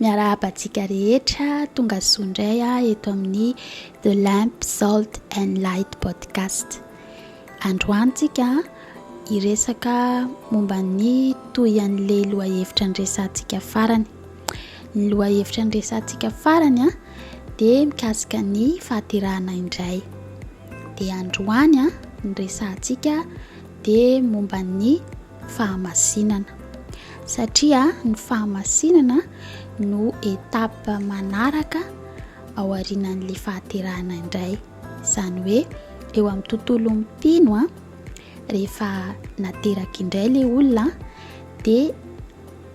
Miarahaba antsika rehetra, tonga soa indray ah, eto amin'ny The Lamp, Salt and Light Podcast. Androany tsika hiresaka momba ny toy an'le lohahevitra niresantsika farany. Ny lohahevitra niresantsika farany ah, dia mikasika ny fahaterahana indray. Dia androany ah, ny resantsika dia momba ny fahamasinana satria ny fahamasinana no étape manaraka ao arinan'le fahaterahana indray izany hoe eo amin'ny tontolo mpino a rehefa nateraka indray le olona de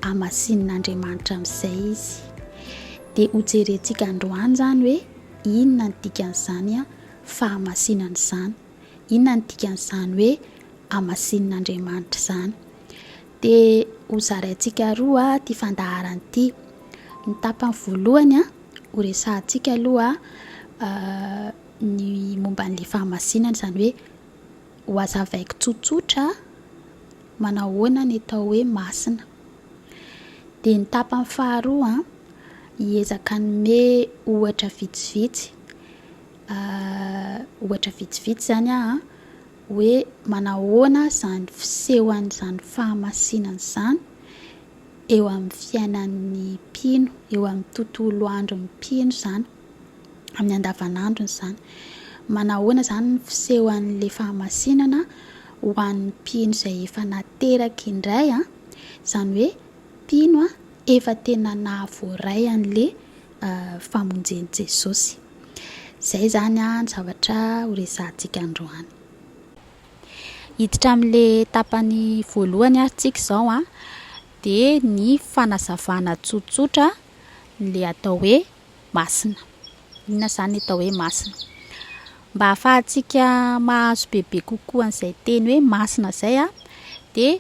amasinin'andriamanitra amin'izay izy de hojerentsika androany zany hoe inona ny dikan'izany a fahamasinana izany Inona no dikan'izany hoe hamasinin'Andriamanitra izany? Dia hozaraintsika aroa ity fandaharana ity. Ny tapany voalohany a, horesahantsika aloha ny momba an'ilay fahamasinana, izany hoe hohazavaiko tsotsotra manao ahoana ny atao hoe masina. Dia ny tapany faharoa a, hiezaka hanome ohatra vitsivitsy. Ahh ohatra vitsivitsy zany an, hoe manahoana zany fisehoan'izany fahamasinana izany eo amin'ny fiainan'ny mpino, eo amin'ny tontolo andron'ny mpino izany, amin'ny andavanandrony izany. Manahoana izany ny fisehoan'ilay fahamasinana ho an'ny mpino izay efa nateraka indray an, izany hoe mpino efa tena nahavoaray an'ilay famonjen'i Jesosy. Izay izany ny zavatra ho resahantsika androany. Hiditra amin'ilay tapany voalohany ary tsika izao an, dia ny fanazavana tsotsotra ilay atao hoe masina. Inona izany ny atao hoe masina? Mba hahafahantsika mahazo bebe kokoa an'izay teny hoe masina izay an, dia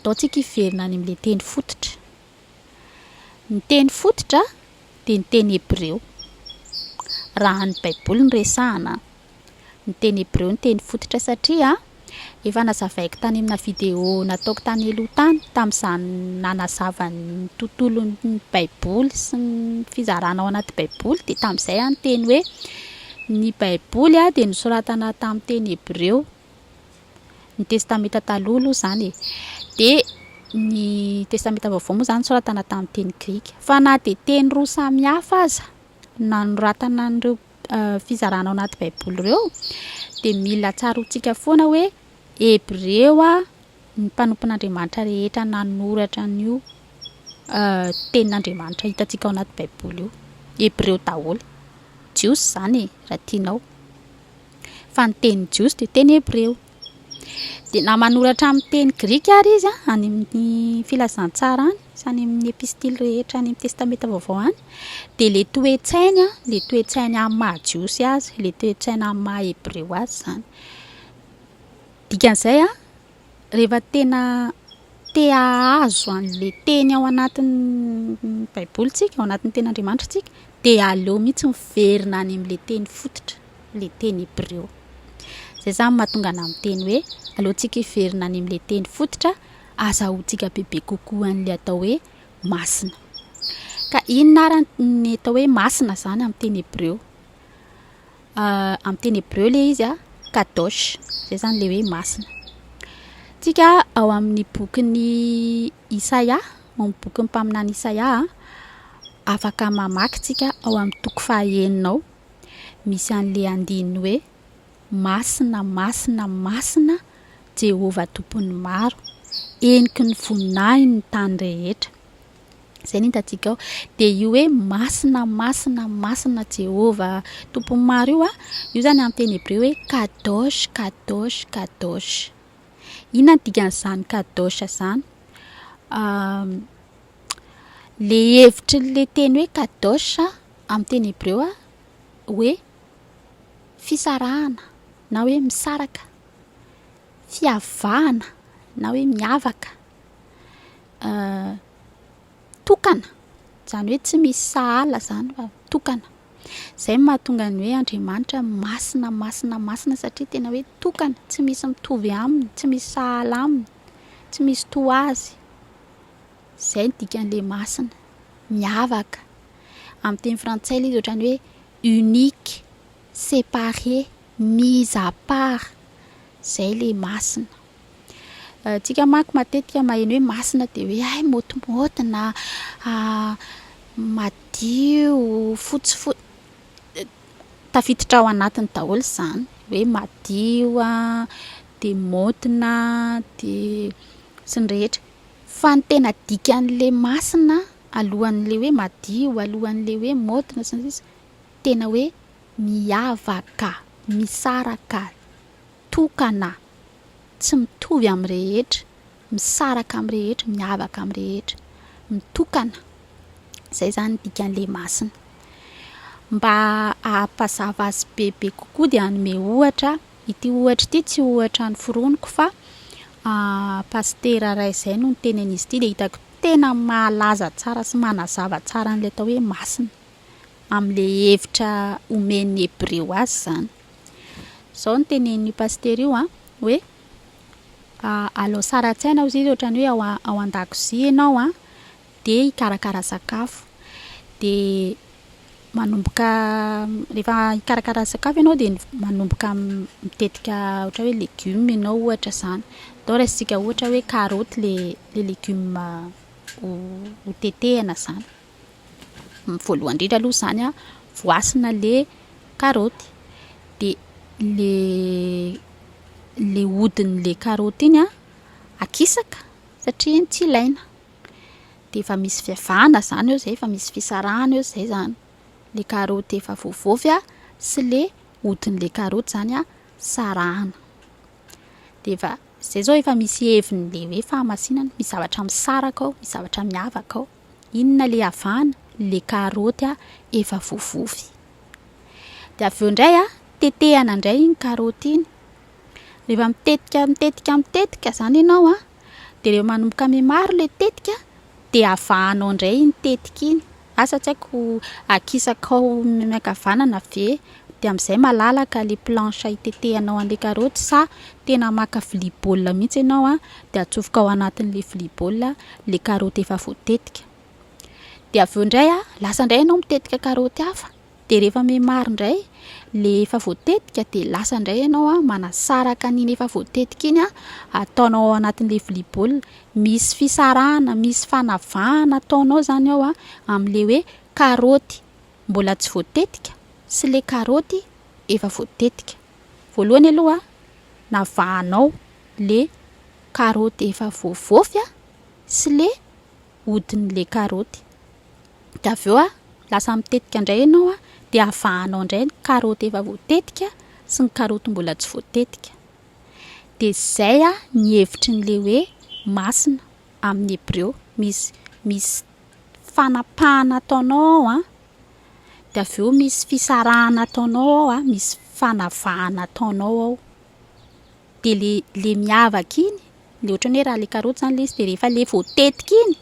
ataontsika hiverina any amin'ilay teny fototra. Ny teny fototra dia ny teny hebreo. Raha ny Baiboly no resahana, ny teny hebreo no teny fototra satria efa nazavaiko tany amina video nataoko tany aloha tany tamin'izany nanazava ny tontolon'ny Baiboly sy ny fizarana ao anaty Baiboly dia tamin'izay aho niteny hoe ny Baiboly dia nosoratana tamin'ny teny hebreo Ny Testamenta Taloha aloha izany e. Dia ny Testamenta Vaovao moa izany nosoratana tamin'ny teny grika. Fa na dia teny roa samy hafa aza nanoratana an'ireo fizarana ao anaty Baiboly ireo, dia mila tsaroantsika foana hoe Hebreo ny mpanompon'Andriamanitra rehetra nanoratra an'io tenin'Andriamanitra hitantsika ao anaty Baiboly io. Hebreo daholo. Jiosy izany e, raha tianao. fa ny teny jiosy dia teny hebreo. Dia na manoratra amin'ny teny grika ary izy any amin'ny filazantsara any, sy any amin'ny epistily rehetra any amin'ny testamenta vaovao any, dia le toe-tsainy a, le toe-tsainy amin'ny maha jiosy azy, le toe-tsaina amin'ny maha hebreo azy izany. Dikan'izay a. Rehefa tena te hahazo an'ilay teny ao anatin'ny baiboly tsika, ao anatin'ny tenin'Andriamanitra tsika, dia aleo mihitsy miverina any amin'ilay teny fototra, ilay teny hebreo. Izay izany mahatonga anà miteny hoe, aleontsika hiverina any amin'ilay teny fototra, azahoantsika bebe kokoa an'ilay atao hoe masina. Ka inona ary ny atao hoe masina izany amin'ny teny hebreo? Amin'ny teny hebreo ilay izy kadosh, izay izany ilay hoe masina. Tsika ao amin'ny bokin'ny Isaia, ao amin'ny bokin'ny mpaminany Isaia, afaka mamaky tsika ao amin'ny toko fahaenina ao, misy an'ilay andininy hoe masina, masina, masina Jehovah Tompon'ny maro, heniky ny voninahiny ny tany rehetra. Izay no hitantsika ao. Dia io hoe masina, masina, masina Jehovah Tompon'ny maro io, io izany amin'ny teny hebreo hoe kadosh, kadosh, kadosh. Inona no dikan'izany kadosh izany? Ilay hevitry ilay teny hoe kadosh amin'ny teny hebreo hoe fisarahana na hoe misaraka, fiavahana na hoe miavaka. tokana, izany hoe tsy misy sahala izany fa tokana. Izay no mahatonga ny hoe Andriamanitra masina, masina, masina satria tena hoe tokana, tsy misy mitovy aminy, tsy misy sahala aminy, tsy misy toa azy. Izay no dikan'ilay masina, miavaka. Amin'ny teny frantsay ilay izy ohatran'ny hoe unique, séparé, mise à part. Izay ilay masina. Tsika manko matetika maheno hoe masina de hoe hay motimoty na madio fotsy fo- tafiditra ao anatiny daholo izany hoe madio a de motina de sy ny rehetra fa ny tena dikan'le masina alohan'le hoe madio alohan'le hoe motina sy ny sisa tena hoe miavaka misaraka tokana Tsy mitovy amin'ny rehetra, misaraka amin'ny rehetra, miavaka amin'ny rehetra, mitokana. Izay izany ny dikan'ny lehy masina. Mba hampazava azy bebe kokoa dia hanome ohatra. Ity ohatra ity tsy ohatra noforoniko fa ah, pasitera iray izay no niteny an'izy ity dia hitako tena mahalaza tsara sy manazava tsara an'ilay atao hoe masina, amin'ilay hevitra omen'ny Hebreo azy izany. Zao no tenenin'io pasitera io an, hoe alao sary an-tsaina hozy izy ohatran'ny hoe ao ao an-dakozia ianao an, dia hikarakara sakafo, dia manomboka rehefa hikarakara sakafo ianao dia manomboka mitetika ohatra hoe legioma ianao ohatra zany, atao raisintsika ohatra hoe karaoty le le legioma ho ho tetehina zany. Voalohany indrindra aloha izany an, voasana ilay karaoty, dia ilay ilay hodin'ilay karaoty iny an, akisaka satria iny tsy ilaina. Dia efa misy fiavahana izany eo izay, efa misy fisarahana eo izay izany. Ilay karaoty efa voavaovy an, sy ilay hodin'ilay karaoty izany an, sarahana. Dia efa, izay izao efa misy heviny hoe fahamasinana, misy zavatra misaraka ao, misy zavatra miavaka ao. Inona le avana? Le karaoty a, efa voavovy. De avy eo indray a, tetehana indray iny karaoty iny. Rehefa mitetika, mitetika, mitetika izany ianao a, de rehefa manomboka mihamaro le tetika, de avahanao indray iny tetika iny. Asa tsy haiko akisakao miankavanana ve? Dia amin'izay malalaka le planche itetehanao an'le karaoty sa tena maka vilia baolina mihitsy ianao an, dia atsofoka ao anatin'le vilia baolina le karaoty efa voatetika. Dia avy eo indray an, lasa indray ianao mitetika karaoty hafa, dia rehefa memary indray le efa voatetika dia lasa indray ianao an manasaraka an'iny efa voatetika iny an, ataonao ao anatin'le vilia baolina. Misy fisarahana, misy fanavahana ataonao izany ao an, amin'le hoe karaoty. mbola tsy voatetika sy le karaoty efa voatetika. Voalohany aloha navahanao le karaoty efa voavofy a, sy le hodin'le karaoty. De avy eo a, lasa mitetika ndray ianao a, de avahanao ndray ny karaoty efa voatetika sy ny karaoty mbola tsy voatetika. De zay a ny hevitrin'le hoe masina amin'ny hebreo. Misy, misy. fanapahana ataonao ao an, dia avy eo misy fisarahana ataonao ao an, misy fanavahana ataonao ao, dia le le miavaka iny, le ohatran'ny hoe raha le karoty zany le izy de rehefa le voatetika iny,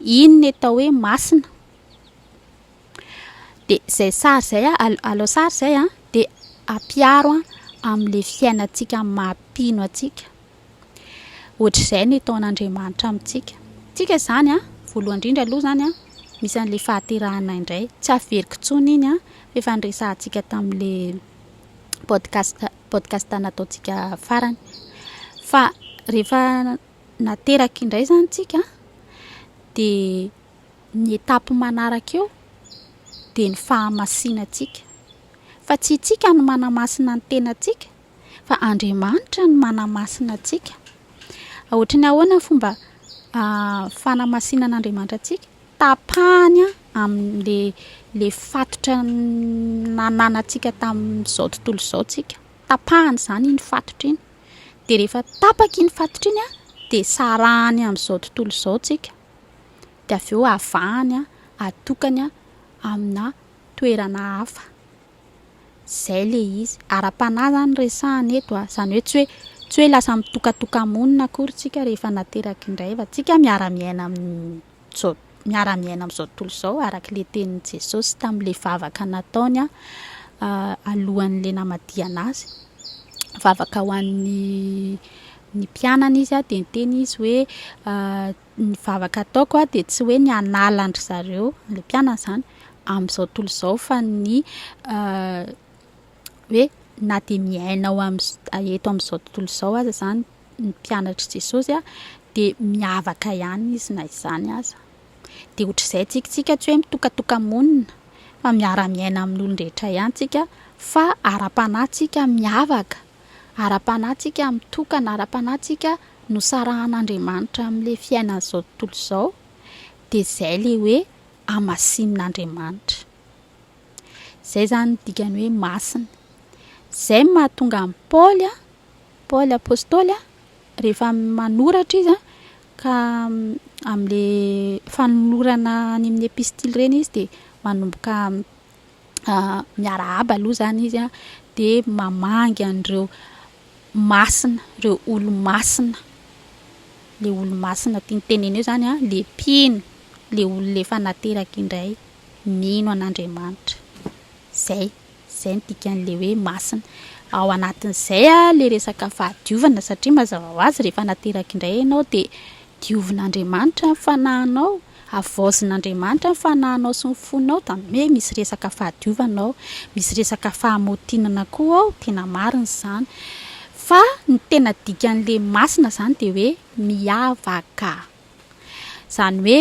iny no atao hoe masina, de zay sary zay a, al- alao sary zay a, de ampiharo amle fiainantsika maha mpino antsika. Ohatr'izay ny taonan'Andriamanitra amintsika. Tsika izany an, voalohany indrindra aloha izany an, misy an'ilay fahaterahanay indray. Tsy averiko intsony iny an, fa efa niresahantsika tamin'ilay podcast, podcast nataontsika farany. Fa rehefa nateraka indray izany tsika, dia ny étape manaraka eo, dia ny fahamasinantsika. Fa tsy itsika no manamasina ny tenantsika, fa Andriamanitra no manamasina antsika. Ohatry ny ahoana ny fomba fanamasinan'Andriamanitra antsika? Tapahany amin'le le fatotra nananantsika tamin'izao tontolo izao tsika. Tapahany izany iny fatotra iny. Dia rehefa tapaka iny fatotra iny dia sarahany amin'izao tontolo izao tsika. Dia avy eo avahany, atokany amina toerana hafa. Zay le izy. Ara-panahy zany no resahana eto a. Zany hoe tsy hoe tsy hoe lasa mitokatoka-monina akory tsika rehefa nateraka indray fa tsika miara-miaina amin'izao miara-miaina amin'izao tontolo izao araka le tenin'i Jesosy tamin'le vavaka nataony a alohan'le namadihana azy. Vavaka ho an'ny ny mpianany izy a de niteny izy hoe Ny vavaka ataoko a, dia tsy hoe ny hanala an-dry zareo, an'ilay mpianany izany, amin'izao tontolo izao, fa ny hoe na dia miaina ao amin'ny, eto amin'izao tontolo izao aza izany ny mpianatr'i Jesosy a, dia miavaka ihany izy na izany aza. Dia ohatr'izay tsika, tsika tsy hoe mitokatoka-monina, fa miara-miaina amin'olon-drehetra ihany tsika, fa ara-panahy tsika miavaka. Ara-panahy tsika mitokana, ara-panahy tsika nosarahan'Andriamanitra amin'ilay fiainan'izao tontolo izao, dia izay ilay hoe hamasinin'Andriamanitra. Izay izany ny dikany hoe masina. Izay no mahatonga an'i Paoly, Paoly apostoly, rehefa manoratra izy ka amin'ilay fanolorana any amin'ny epistily ireny izy dia manomboka miarahaba aloha zany izy an, de mamangy an'ireo masina, ireo olo-masina, le olo-masina tiany tenena eo zany an, le mpino, le olona efa nateraka indray, mino an'Andriamanitra. Zay, zay ny dikan'le hoe masina. Ao anatin'izay an, le resaka fahadiovana satria mazava ho azy rehefa nateraka indray ianao de Diovin'Andriamanitra ny fanahinao, havaozin'Andriamanitra ny fanahinao sy ny fonao da me misy resaka fahadiovana ao, misy resaka fahamotinana koa ao, tena marina izany. Fa ny tena dikan'le masina zany de hoe miavaka. Zany hoe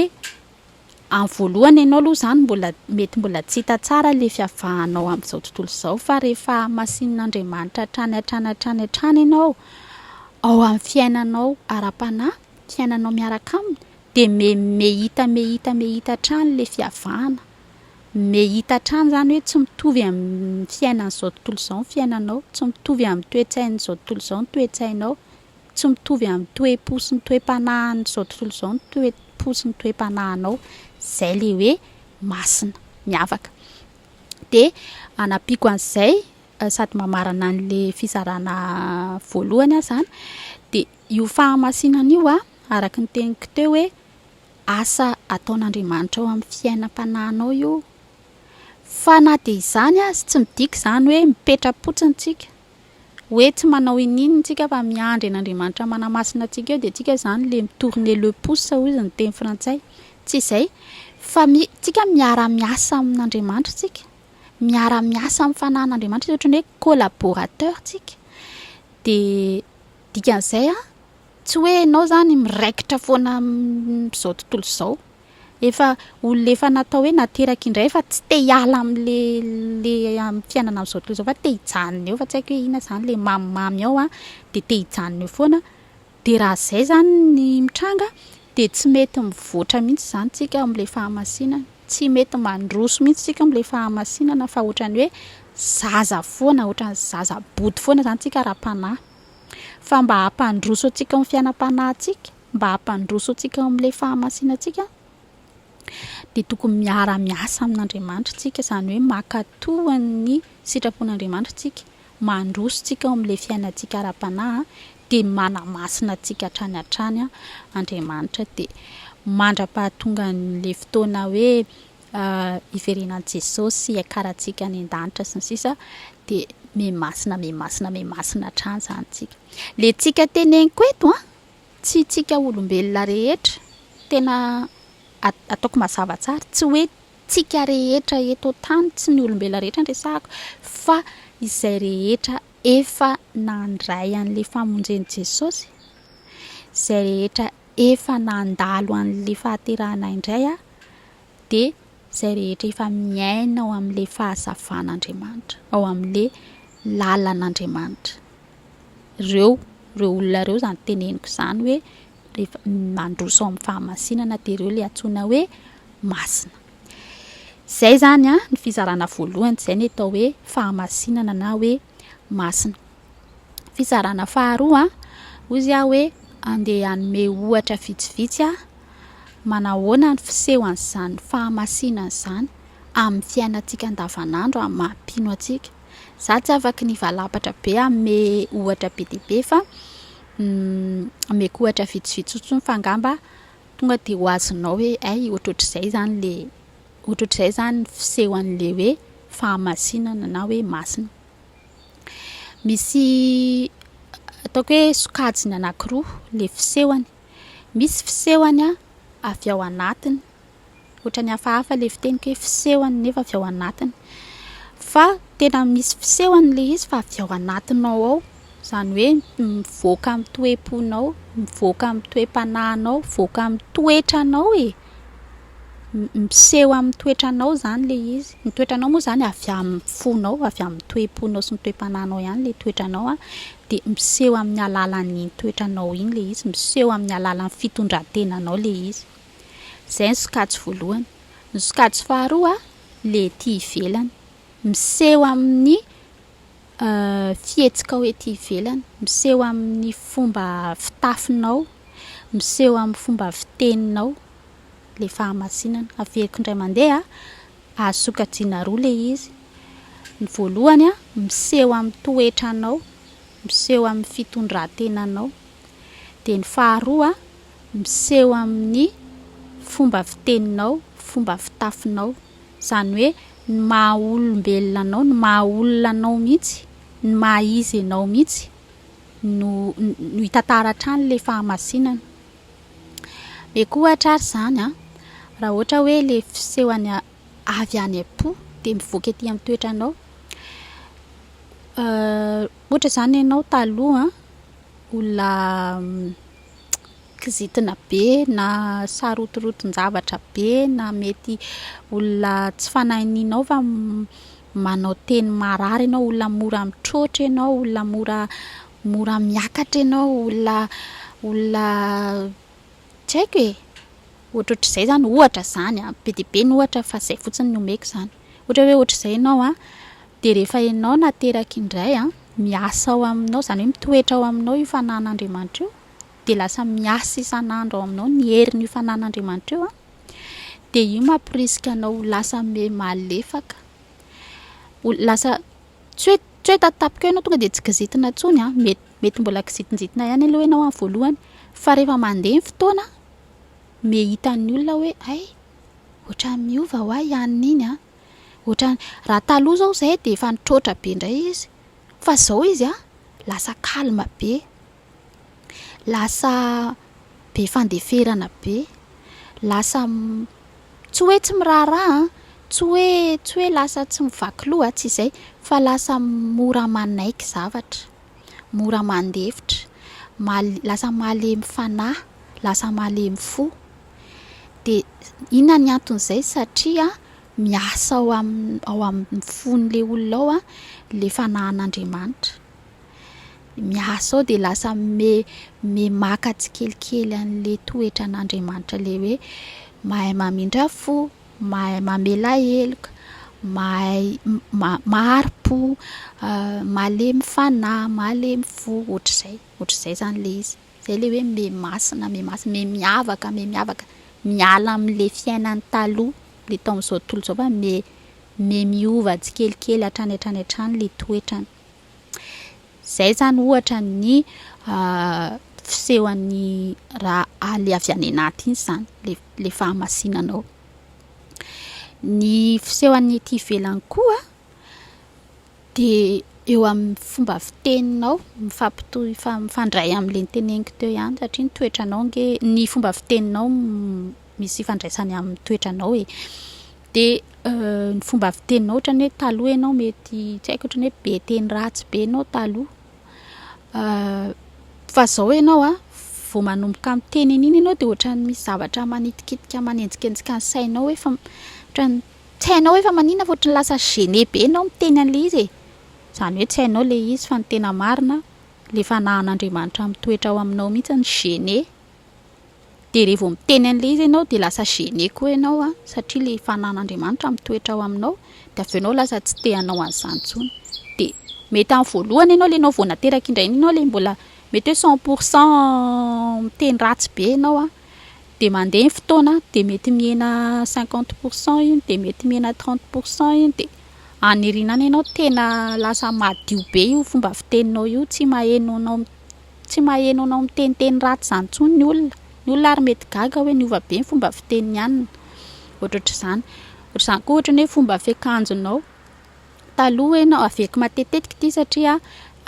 Amin'ny voalohany ianao aloha izany mbola mety mbola tsy hita tsara ilay fiavahanao amin'izao tontolo izao fa rehefa hahamasin'Andriamanitra hatrany hatrany hatrany hatrany ianao ao amin'ny fiainanao ara-panahy, fiainanao miaraka aminy dia me- me hita me hita me hita hatrany ilay fiavahana. Me hita hatrany izany hoe tsy mitovy amin'ny fiainan'izao tontolo izao ny fiainanao, tsy mitovy amin'ny toe-tsain'izao tontolo izao ny toe-tsainao. Tsy mitovy amin'ny toe-po sy ny toe-panahin'izao tontolo izao ny toe-po sy ny toe-panahinao. Izay ilay hoe masina, miavaka. Dia hanampiako an'izay, sady mamarana an'ilay fizarana voalohany aho izany, dia io fahamasinana io an, araka ny teniko teo hoe asa ataon'Andriamanitra ao amin'ny fiainam-panahinao io. Fa na dia izany aza, tsy midika izany hoe mipetra-potsiny tsika. Hoe tsy manao iniana tsika fa miandry an'Andriamanitra manamasina antsika eo dia tsika izany le mi-tourner le pouce hozy ny teny frantsay. Tsy izay fa mi- tsika miara miasa amin'Andriamanitra tsika, miara miasa amin'ny fanahin'Andriamanitra, ohatran'ny hoe collaborateur tsika. Dia dikan'izay an! Tsy hoe ianao izany miraikitra foana amin'izao tontolo izao. Efa olona efa natao hoe nateraka indray fa tsy te hiala amin'ilay amin'ny fiainana amin'izao tontolo izao fa te hijanona eo fa tsy haiko hoe inona izany ilay mamimamy ao an, dia te hijanona eo foana. Dia raha izay izany ny mitranga dia tsy mety mivoatra mihitsy izany isika amin'ilay fahamasinana. Tsy mety mandroso mihitsy isika amin'ilay fahamasinana fa ohatran'ny hoe zaza foana, ohatran'ny zaza bodo foana izany isika ara-panahy. Fa mba hampandroso antsika ao amin'ny fiainam-panahintsika, mba hampandroso antsika ao amin'ilay fahamasinantsika, dia tokony miara-miasa amin'Andriamanitra isika, izany hoe mankato ny sitrapon'Andriamanitra isika, mandroso isika ao amin'ilay fiainantsika ara-panahy, dia manamasina antsika hatrany hatrany Andriamanitra. Dia mandra-pahatongan'ilay fotoana hoe hiverena an'i Jesosy, hiakarantsika any an-danitra sy ny sisa dia me masina me masina me masina hatrany izany tsika. Le tsika teneniko eto an, tsy tsika olombelona rehetra, tena ataoko mazava tsara, tsy hoe tsika rehetra eto an-tany, tsy ny olombelona rehetra no resahako, fa izay rehetra efa nandray an'le famonjen'i Jesosy, izay rehetra Efa nandalo an'ilay fahaterahana indray aho, dia izay rehetra efa miaina ao amin'ilay fahazavan'Andriamanitra, ao amin'ilay lalan'Andriamanitra. Ireo, ireo olona ireo izany teneniko izany hoe rehefa mandroso ao amin'ny fahamasinana dia ireo ilay antsoina hoe masina. Izay izany an, ny fizarana voalohany izay ny atao hoe fahamasinana na hoe masina. Fizarana faharoa, hoy izy aho hoe andeha hanome ohatra vitsivitsy aho, manahoana ny fisehoan'izany fahamasinana izany amin'ny fiainantsika andavanandro amin'ny maha mpino antsika. Izaho tsy afaky ny hivalapatra be hanome ohatra be dia be fa omeko ohatra vitsivitsy fotsiny fa angamba tonga dia ho azonao hoe hay ohatrohatr'izay izany ilay, ohatrohatr'izay izany ny fisehoan'ilay hoe fahamasinana na hoe masina. Misy ataoko hoe sokajiny anankiroa ilay fisehony. Misy fisehony avy ao anatiny, ohatran'ny hafahafa ilay fiteniko hoe fisehony nefa avy ao anatiny. Fa tena misy fisehony ilay izy fa avy ao anatinao ao, izany hoe mivoaka amin'ny toe-ponao, mivoaka amin'ny toe-panahinao, mivoaka amin'ny toetranao e. Miseho amin'ny toetranao izany ilay izy. Ny toetranao moa izany avy amin'ny fonao, avy amin'ny toe-ponao sy ny toe-panahinao ihany ilay toetranao an, dia miseho amin'ny alalan'iny toetranao iny ilay izy, miseho amin'ny alalan'ny fitondran-tenanao ilay izy. Izay ny sokajy voalohany. Ny sokajy faharoa, ilay ety ivelany. Miseho amin'ny. fihetsikao ety ivelany, miseho amin'ny fomba fitafinao, miseho amin'ny fomba fiteninao ilay fahamasinana. Averiko indray mandeha, azo sokajiana roa ilay izy. Ny voalohany, miseho amin'ny toetranao, miseho amin'ny fitondran-tenanao. Dia ny faharoa, miseho amin'ny fomba fiteninao, fomba fitafinao. Izany hoe ny maha olombelona anao, ny maha olona anao mihitsy, ny maha izy ianao mihitsy no no hitantara hatrany ilay fahamasinana. Mety koa ohatra ary izany an, raha ohatra hoe ilay fiseho any avy any am-po dia mivoaka ety amin'ny toetranao. Ohatra izany ianao taloha olona kizitina be na sarotoroton-javatra be na mety olona tsy fanahy ninao fa manao teny marary ianao, olona mora mitroatra ianao, olona mora mora miakatra ianao, olona olona tsy haiko e! ohatrohatr'izay izany, ohatra izany an, be dia be ny ohatra fa izay fotsiny ny omeko izany. Ohatra hoe ohatr'izay ianao an, dia rehefa ianao no ateraky indray an, miasa ao aminao, izany hoe mitoetra ao aminao io fanahin'Andriamanitra io, dia lasa miasa isan'andro ao aminao ny herin'io fananan'Andriamanitra io an, dia io mamporisika anao ho lasa me malefaka, ho lasa tsy hoe tsy hoe tatapaka eo ianao tonga dia tsy kizitina intsony an, mety mety mbola kizitinjitina ihany aloha ianao amin'ny voalohany, fa rehefa mandeha ny fotoana an, me hitan'ny olona hoe hay ohatran'ny miova ho ahy any n'iny an, ohatran'ny raha taloha izao izay dia efa nitroatra be indray izy fa izao izy an lasa calme be. lasa be fandeferana be, lasa tsy hoe tsy miraharaha, tsy hoe tsy hoe lasa tsy mivaky loha, tsy izay fa lasa mora manaiky zavatra, mora mandefitra, maha- lasa malemy fanahy, lasa malemy fo. Dia inona ny anton'izay? Satria miasa ao amin'ny ao amin'ny fon'ilay olona ao ilay fanahin'Andriamanitra. miasa ao dia lasa me- memaka tsikelikely an'le toetra an'Andriamanitra le hoe mahay mamindra fo, mahay mamela heloka, mahay ma- mahari-po, malemy fanahy, malemy fo, ohatr'izay, ohatr'izay zany le izy, zay le hoe me masina, me masina, me miavaka, me miavaka, miala am'le fiainany taloha, le tao am'zao tontolo zao fa me- me miova tsikelikely hatrany hatrany hatrany le toetrany. Izay izany ohatra ny fisehoan'ny raha aly avy any anaty iny izany, ilay fahamasinana ao. Ny fisehoan'ny ety ivelany koa dia eo amin'ny fomba fiteninao, mifampitohy, mifandray amin'ilay noteneniko teo ihany satria ny toetranao ange, ny fomba fiteninao misy ifandraisany amin'ny toetranao e. Dia ny fomba fiteninao ohatrany hoe taloha ianao mety tsy haiko ohatrany hoe be teny ratsy be ianao taloha fa zao ianao a vao manomboka miteny an'iny ianao dia ohatrany misy zavatra manitikitika manenjikenjika ny sainao hoe fa ohatrany tsy hainao hoe fa maninona fa ohatrany lasa gêné be ianao miteny an'ilay izy e! izany hoe tsy hainao ilay izy fa ny tena marina ilay fanahan'Andriamanitra mitoetra ao aminao mihintsy no gêné Dia rehefa vao miteny an'ilay izy ianao dia lasa gêné koa ianao an, satria ilay fananan'Andriamanitra mitoetra ao aminao, dia avy eo ianao lasa tsy te hanao an'izany intsony. Dia mety amin'ny voalohany ianao ilay nao vao nateraka indray iny ianao ilay mbola mety hoe cent pour cent miteny ratsy be ianao an, dia mandeha ny fotoana an, dia mety mihena cinquante pour cent iny, dia mety mihena trente pour cent iny, dia any aoriana any ianao tena lasa madio be io fomba fiteninao io, tsy maheno anao Tsy maheno anao miteniteny ratsy izany intsony ny olona. Ny olona ary mety gaga hoe niova be ny fomba fitenin'i Anna. Ohatraotr'izany. Ohatr'izany koa ohatra ny hoe fomba fiakanjonao. Taloha hoe ianao, averiko matetitetika ity satria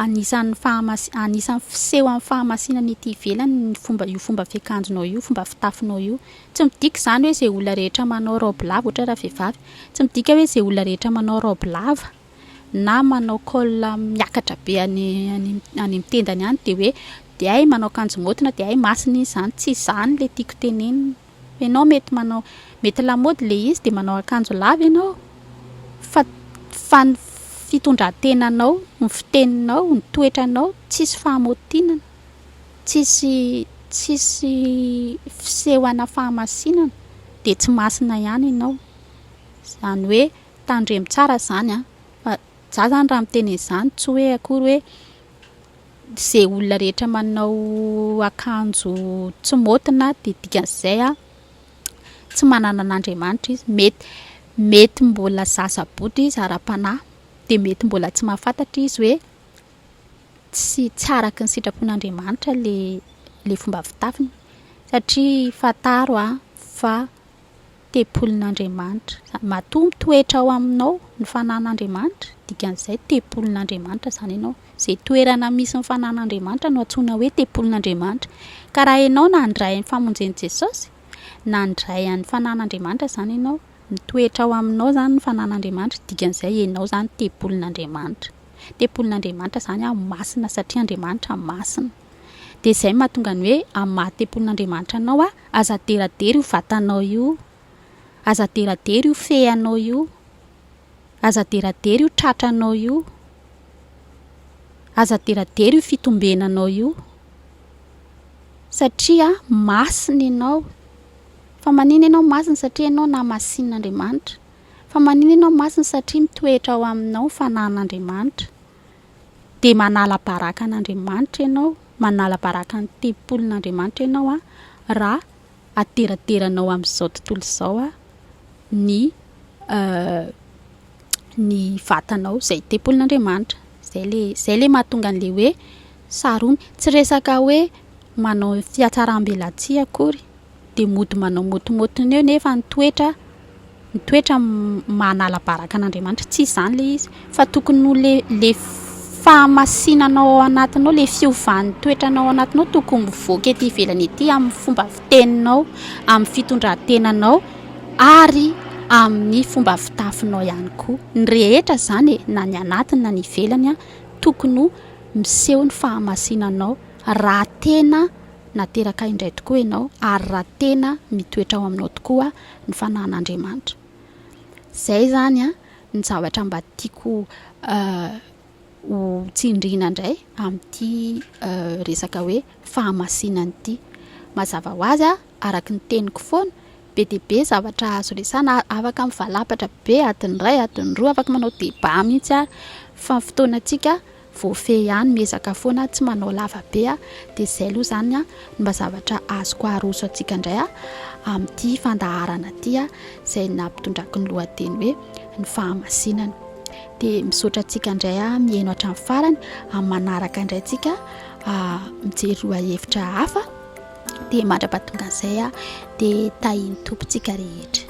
anisan'ny fahamasi- anisan'ny fisehon'ny fahamasiana ny ety ivelany ny fomba io fomba fiakanjonao io, fomba fitafinao io. Tsy midika izany hoe izay olona rehetra manao raoby lava, ohatra hoe raha vehivavy, tsy midika hoe izay olona rehetra manao raoby lava. na manao col miakatra be any any amin'ny tendany any dia hoe dia hay manao akanjo maotina dia hay masina izy izany tsy izany ilay tiako tenenina ianao mety manao mety lamaody ilay izy dia manao akanjo lava ianao fa fa ny fitondran-tenanao ny fiteninao ny toetranao tsisy fahamaotinana tsisy tsisy fisehoana fahamasinana dia tsy masina ihany ianao izany hoe Tandremo tsara izany an! Fa za izany raha miteny an'izany tsy hoe akory hoe izay olona rehetra manao akanjo tsy maotina dia dikan'izay an, tsy manana an'Andriamanitra izy. Mety, mety mbola zaza bodoka izy ara-panahy, dia mety mbola tsy mahafantatra izy hoe tsy, tsy araka ny sitrapon'Andriamanitra ilay, ilay fomba fitafiny. Satria fantaro an fa. tempolin'Andriamanitra. Matoa mitoetra ao aminao ny fanan'Andriamanitra, dikan'izay tempolin'Andriamanitra izany ianao. Izay toerana misy ny fanan'Andriamanitra no antsoina hoe tempolin'Andriamanitra. Ka raha ianao nandray ny famonjen'i Jesosy, nandray an'ny fanan'Andriamanitra izany ianao. Mitoetra ao aminao izany ny fanan'Andriamanitra, dikan'izay ianao izany tempolin'Andriamanitra. Tempolin'Andriamanitra izany masina satria Andriamanitra masina. Dia izay no mahatonga ny hoe amin'ny maha tempolin'Andriamanitra anao aho, aza aderadera io vatanao io, aza aderadera io feanao io, aza aderadera io tratranao io, aza aderadera io fitombenanao io, satria masina ianao. Fa maninona ianao masina? Satria ianao namasinin'Andriamanitra. Fa maninona ianao masina? Satria mitoetra ao aminao ny fananan'Andriamanitra. dia manala baraka an'Andriamanitra ianao, manala baraka ny tempolin'Andriamanitra ianao an, raha aderaderanao amin'izao tontolo izao an, ny ny vatanao izay tempolin'Andriamanitra. Izay ilay, izay ilay mahatonga an'ilay hoe sarona. Tsy resaka hoe manao fihatsaram-belatsihy akory dia mody manao motimotiny eo nefa ny toetra ny toetra manala baraka an'Andriamanitra tsy izany ilay izy fa tokony ho le le fahamasinanao ao anatinao le fiovan'ny toetranao ao anatinao tokony mivoaka ety ivelany ety amin'ny fomba fiteninao amin'ny fitondran-tenanao ary amin'ny fomba fitafinao ihany koa ny rehetra izany e na ny anatiny na ny ivelany a tokony ho miseho ny fahamasinanao raha tena Nateraka ahy indray tokoa ianao, ary raha tena mitoetra ao aminao tokoa ny fanahin'Andriamanitra. Izay izany ny zavatra mba tiako ho tsindriana indray amin'ity resaka hoe fahamasinana ity. Mazava ho azy, araka ny teniko foana, be dia be zavatra azo resahina, afaka mivalapatra be adiny iray, adiny roa, afaka manao débat mihitsy ary, fa ny fotoanantsika. Voafehy ihany, miezaka foana tsy manao lava be a! Dia izay aloha izany a, ny mba zavatra azoko aroso antsika indray a, amin'ity fandaharana ity a, izay nampitondrako ny lohateny hoe ny fahamasinana. Dia misaotra antsika indray a, mihaino hatramin'ny farany, amin'ny manaraka indray antsika a, mijery lohahevitra hafa, dia mandra-pahatonga an'izay a, dia tahian'ny Tompo tsika rehetra.